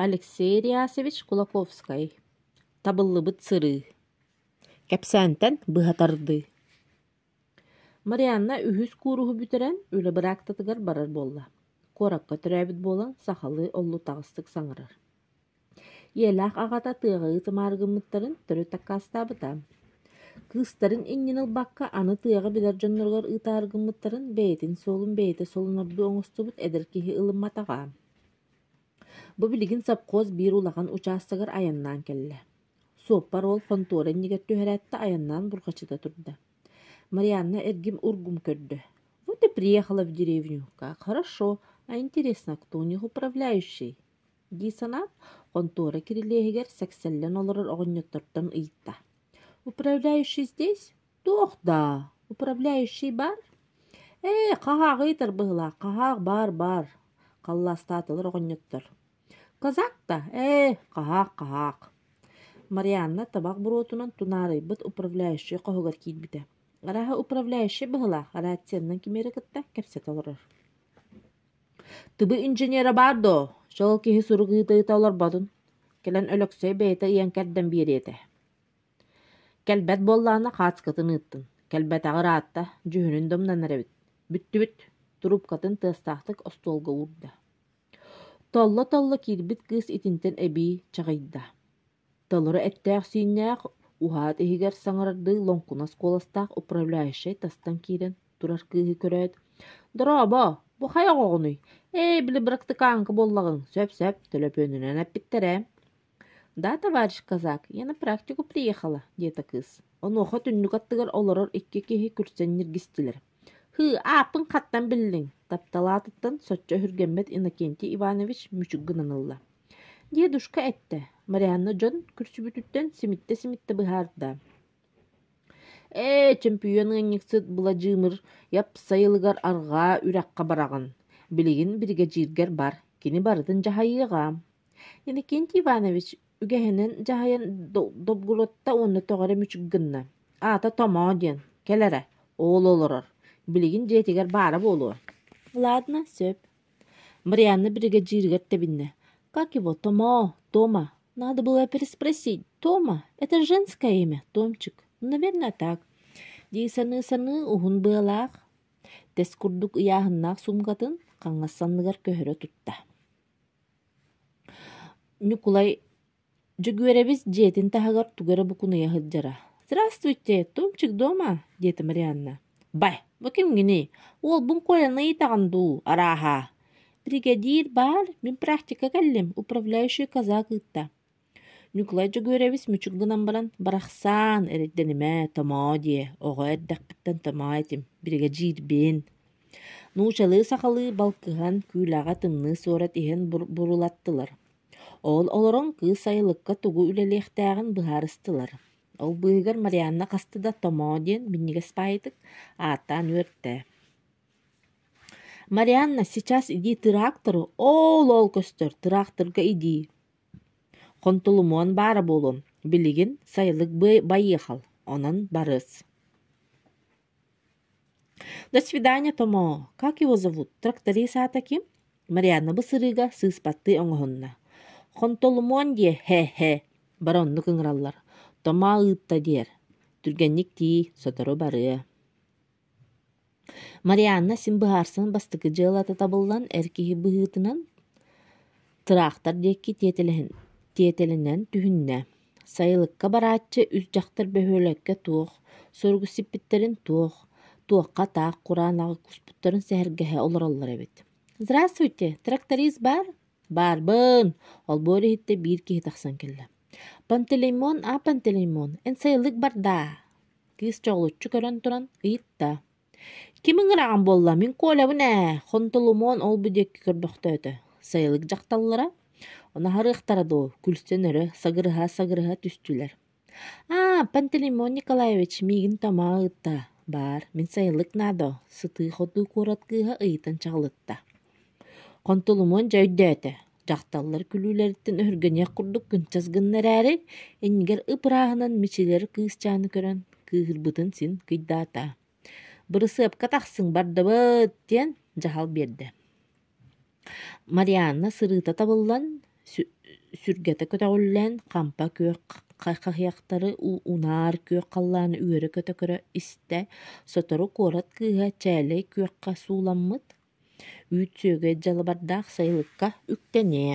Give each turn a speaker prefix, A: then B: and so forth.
A: Алексей Реасович Кулаковскай «Табыллыбыт сырыы» кэпсээнтэн быһа тардыы Марианна үһүс кууруһу бүтэрэн үлэ быраактатыгар барар буолла, куоракка төрөөбүт буолан сахалыы оллутаҕастык саҥарар. Ийэлээх аҕата тыаҕа ыытымаары гыммыттарын төрүт аккаастаабыта. Кыыстарын иннин ылбакка аны тыаҕа билэр дьонноругар ыытаары гыммыттарын бэйэтин суолун бэйэтэ солунордуу оҥостубут эдэр киһи ылымматаҕа Бу билигин сопхуос биир улахан учаастагар айаннаан кэллэ. Суоппар уол хонтуора иннигэр түһэрээт айаннаан бурҕачыта турда. Марианна эргим ургум көрдө. «Вот и приехала в деревню. Как хорошо. А интересно, кто у них управляющий?» дии санаат, хонтуора кирилиэһигэр сэксэллэн олорор оҕонньоттортон ыйытта: «Управляющий здесь? Туох даа? Управляющий бар?» «Ээ, хаһаах ыйытар быһыылаах, хаһаах баар баар», – халлаастаатылар оҕонньоттор. «Казак да? Ээ, хаһаах хаһаах». Марианна табах буруотунан тунаарыйбыт управляющай хоһугар киирбитэ. Арааһа управляющай быһыылаах раціенынан кимиэрэ кытта кэпсэтэ олорор Тугу инженера баар дуо, шел киһи сурук ыытыыта олорботун, кэлэн Өлөксөй бэйэтэ ыйан кэрдэн биэриэтэ Кэлбэт буоллаҕына хаацкатын ыыттын, кэлбэтэҕэ ыраатта, дьүһүнүн да умнанар эбит, бүттүбүт, туруупкатын тыастаахтык остуолга уурда Толло-толло киирбит кыыс итинтэн эбии чаҕыйда Толору эттээх-сииннээх, уһаат иһигэр саҥардыы лоҥкунас куоластаах управляющай тастан киирэн турар кыыһы көрөөт, «Дорообо, бу хайа оҕоҕунуй? Ээ, били бырактыкааҥка буоллаҕыҥ, сөп-сөп, төлөпүөнүнэн эппиттэр ээ». «Да, товарищ казак, я на практику приехала», диэтэ кыыс. Онуоха түннүк аттыгар олорор икки киһи күрсэн ньиргистилэр. «Һыы, ааппын хаттан биллиҥ», таптал аатыттан соччо өһүргэммэт Иннокентий Иванович мүчүк гынан ылла Дедушка эттэ, Марианна дьон күрсүбүтүттэн симиттэ-симиттэ быһаарда «Ээ, чөмпүйүөн ыанньыксыт Быладьыымыр япсайылыгар арҕаа үрэххэ бараҕын, билигин биригэдьииргэр бар, кини барытын дьаһайыаҕа». Иннокентий Иванович үгэһинэн дьаһайан Добгородта уонна тоҕо эрэ мүчүк гынна, аата «Томоо» диэн, кэл эрэ, оол олорор, билигин дьиэтигэр баара буолуо. «Ладно, сөп» Марианна биригэдьииригэр тэбиннэ: «Как его, Томо? Тома? Надо было переспросить. Тома? Это женское имя, Томчик. Наверное, так. дии саныы-саныы уһун быалаах, тэс курдук ыйааһыннаах суумкатын хаҥас санныгар көһөрө тутта Дьөгүөрэбис дьиэтин таһыгар тугу эрэ букунуйа сылдьара. «Здравствуйте, Томчик дома?» диэтэ Марианна. «Бай, бу кимҥиний? Уолбун Коляны ыйытаҕын дуу, арааһа?» «Бригадир баар, мин практика кэллим, управляющий казак ыытта». Ньукулай Дьөгүөрэбис мүчүк гынан баран «Барахсан, эрэйдэнимэ, томоо диэ, оҕо эрдэхпиттэн томоо этим, биригэдьиирбин». Нуучалыы-сахалыы балкыһан, күүлэҕэ тымныы суорат иһэн бурулаттылар. Ол олорон кыыс айылыкка тугу үлэлиэхтээҕин быһаарыстылар. Ол быыһыгар Марианна хаста да «Томоо» диэн минньигэс паайытык ааттаан үөртэ. «Марианна, сейчас иди тыраактору оол-оол көстөр, тыраахтырга идии. Хонтулумуон баара буолуон, билигин сайылык байыахал, онон барыас» До свидания, Томо! Как его зовут? Тракториса таки? Марианна бу сырыыга сыыспаттыы оҥоһунна. Хонтолумуон диэ һэ-һэ баронну кыҥыраллар. Тома ыытта диэр. Түргэнник тии, сотору барыа. Марианна син быһаарсан бастакы дьыалата табыллан эр киһи быһыытынан Тыраахтар диэки тиэтэлинэн түһүннэ, сайылыкка барааччы үс дьахтар бөһүөлэккэ туох суругу сиппиттэрин туох, туохха таах кураан аҕай куспуттарын сэһэргэһэ олороллор эбит. «Здравствуйте, тракторист баар?» «Баарбын!» Олбуор иһиттэ биир киһи тахсан кэллэ. «Пантелеймон, а Пантелеймон, эн сайылык бардаа?» Кыыс чоҕулуччу көрөн туран ыйытта. Кимиҥ ыраҕан буолла, мин Колябын ээ, Хонтоломоон ол-бу диэки көрбөхтөөтө, сайылык дьахталлара, ону аһарыахтара дуо, күлсэн өрө сагырыһа-сагырыһа түстүлэр. «Аа, Пантелеймон Николаевич, миигин Томаа ыытта, баар, мин сайылык наадо», сытыы-хотуу куорат кыыһа ыйытан чаҕылытта. Хонтоломоон дьэ өйдөөтө: Дьахталлар күлүүлэриттэн өһүргэниэх курдук кынчас гынна эрээри, иннигэр ып-ырааһынан мичилэр кыысчааны көрөн, кыыһырбытын син кыйдаата. «Бырысыапка тахсыҥ бардыбыт!» диэн дьаһал биэрдэ. Марианна сырыыта табыллан, сүргэтэ көтөҕүллэн, хампа күөх хаһыйахтары унаар күөх халлааны үөрэ-көтө көрө истэ, сотору куорат кыыһа чээлэй күөххэ сууламмыт, Үүт сүөгэй дьалабардаах сайылыкка үктэниэ